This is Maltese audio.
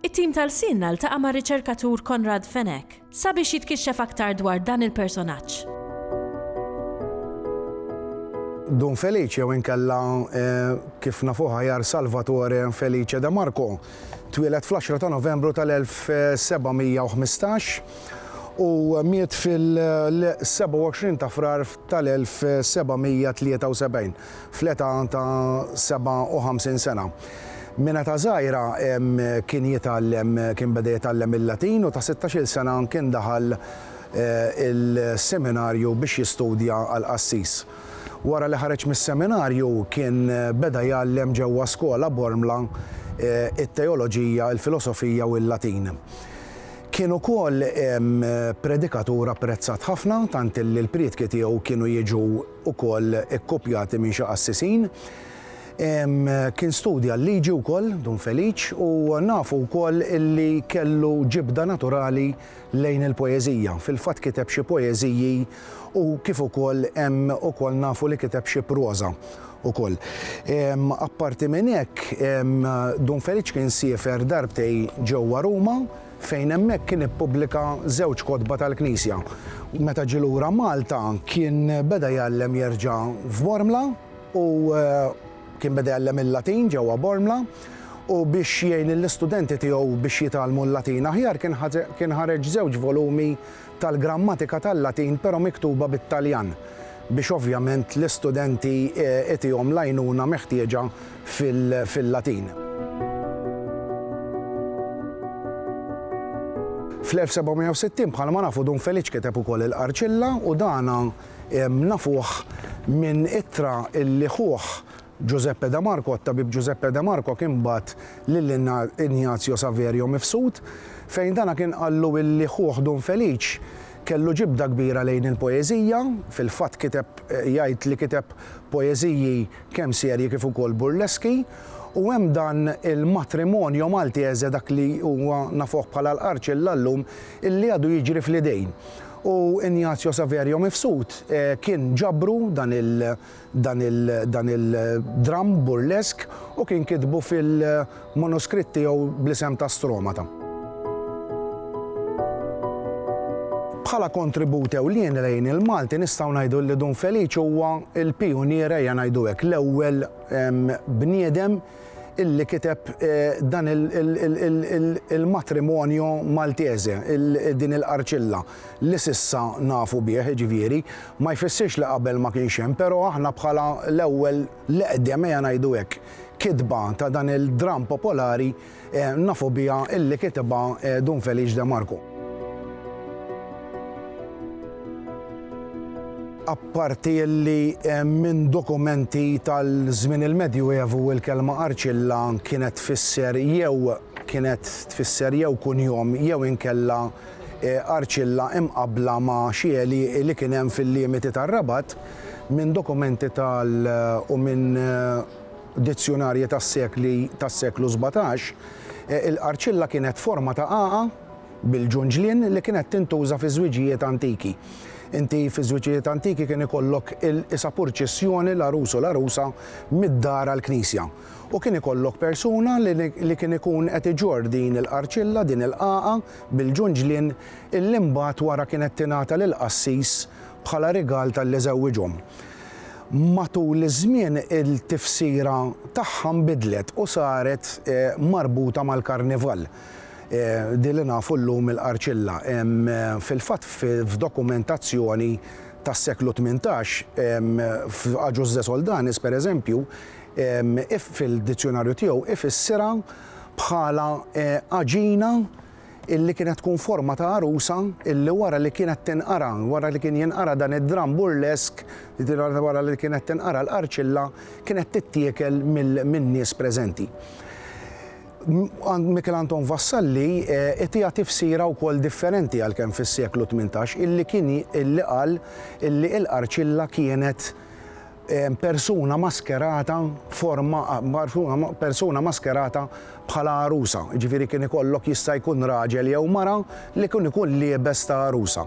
It-tim ta' Lsienna ltaqa' mar-riċerkatur Konrad Fenech sabiex jitkixxef aktar dwar dan il-personaġġ. Dun Felice jew inkella kif nafuh aħjar Salvatore Felice de Marco twieled fl-għaxra ta' Novembru tal-1715 u miet fil-27 ta' Frar tal-1773. fl-età ta' 57 sena. Minn età żgħira kien jitgħallem kien beda jitgħallem il-Latin u ta' sittax-il sena kien daħal il-seminarju biex jistudja għal qassis. Wara li ħareġ mis-seminarju kien beda jgħallem ġewwa skola Bormla it-teoloġija, il-filosofija u l-Latin. Kien ukoll predikatur apprezzat ħafna tant illi l-prietki tiegħu kienu jiġu ukoll ikkopjati minn xi qassisin. Kien studja l-liġi wkoll Dun Feliċ u nafu wkoll illi kellu ġibda naturali lejn il-poeżija. Fil-fatt kiteb xi poeżiji u kif ukoll hemm ukoll nafu li kiteb xi proża ukoll. Apparti minn hekk Dun Feliċ kien siefer darbtej ġewwa Ruma. fejn hemmhekk kien ippubblika żewġ kotba tal-Knisja. Meta ġie lura Malta kien beda jgħallem jerġa' f'Bormla u kien beda jgħallem il-Latin ġewwa Bormla u biex jgħin lill-istudenti tiegħu biex jitgħallmu l-Latin aħjar kien ħareġ żewġ volumi tal-grammatika tal-Latin però miktuba bit-Taljan biex ovvjament l-istudenti itihom l-għajnuna meħtieġa fil-Latin. Fl-1760 bħalma nafu Dun Feliċ kiteb ukoll il-Qarċilla u dan nafuh minn ittra li ħuh Giuseppe de Marco, It-tabib Giuseppe de Marco kien bagħat lil Ignazio Saverio mifsud, fejn dana kien qallu illi ħuh Dun Felice kellu ġibda kbira lejn il-poeżija, fil-fatt kiteb jgħid li kiteb poeżiji kemm serji kif ukoll burleski, u hemm dan il-matrimonio maltese dak li huwa nafuh bħala l-Qarċilla llum illi għadu jiġri fl-idejn. U Ignazio Saverio mifsud kien ġabru dan il dan il-dramm burlesk u kien kitbu fil-manuskritt tiegħu bl-isem ta' Stromata. Bħala kontribut ewlieni lejn il-Malti nistgħu ngħidu li Dun Feliċ huwa l-pijunier ejja ngħidu hekk, l-ewwel bniedem illi kiteb dan il-matrimonio Maltese, din il-qarċilla. li s'issa nafu bih, jiġifieri, ma jfissirx li qabel ma kienx hemm, però aħna bħala l-ewwel, l-eqdem ejja ngħidu hekk, kitba ta' dan il-dramm popolari nafu biha illi kitibha Dun Feliċ De Marco. Apparti illi minn dokumenti tal-żmien il-Medjuevu il-kelma Arċilla kienet tfisser jew kienet tfisser jew kunjom jew inkella Arcilla imqabbla ma' xi għelieqi li kien hemm fil-limiti tar-Rabat minn dokumenti tal u minn dizzjunarji tas-sekli tas-seklu sbatax, il-qarcilla kienet forma ta' għagħa bil-ġunġlien li kienet tintuża fiż-żwiġijiet antiki. Inti fiż-żwiġijiet antiki kien ikollok il-isapurċissjoni l-għarus u l-għarusa mid-dar għall-knisja. u kien ikollok persuna li li kien ikun qed iġorr din il-qarċilla, din il-qagħa, bil-ġunġlien, illi mbagħad wara kienet tingħata lill-qassis bħala rigal talli żewwiġhom. Matul iż-żmien il-tifsira tagħha nbidlet u saret marbuta mal-karnival, din li nafu llum il-qarċilla. Fil-fatt f'dokumentazzjoni tas-seklu tmintax, f'Agius de Soldanis, pereżempju, If fil-dizzjunarju tiegħu ifissirha bħala għaġina li kienet tkun forma ta' għarusa li wara li kienet tinqara, wara li kien jinqara dan id-dramm burlesk, wara li kienet tinqara l-qarċilla, kienet tittiekel min-nies preżenti. Michel Anton Vassalli itiha tifsira wkoll differenti għalkemm fis-seklu tmintax illi kien illi qal illi l-qarċilla kienet persuna maskerata forma persuna maskerata bħala għarusa, jiġifieri kien ikollok jista' jkun raġel jew mara li kien ikun liebes ta' għarusa.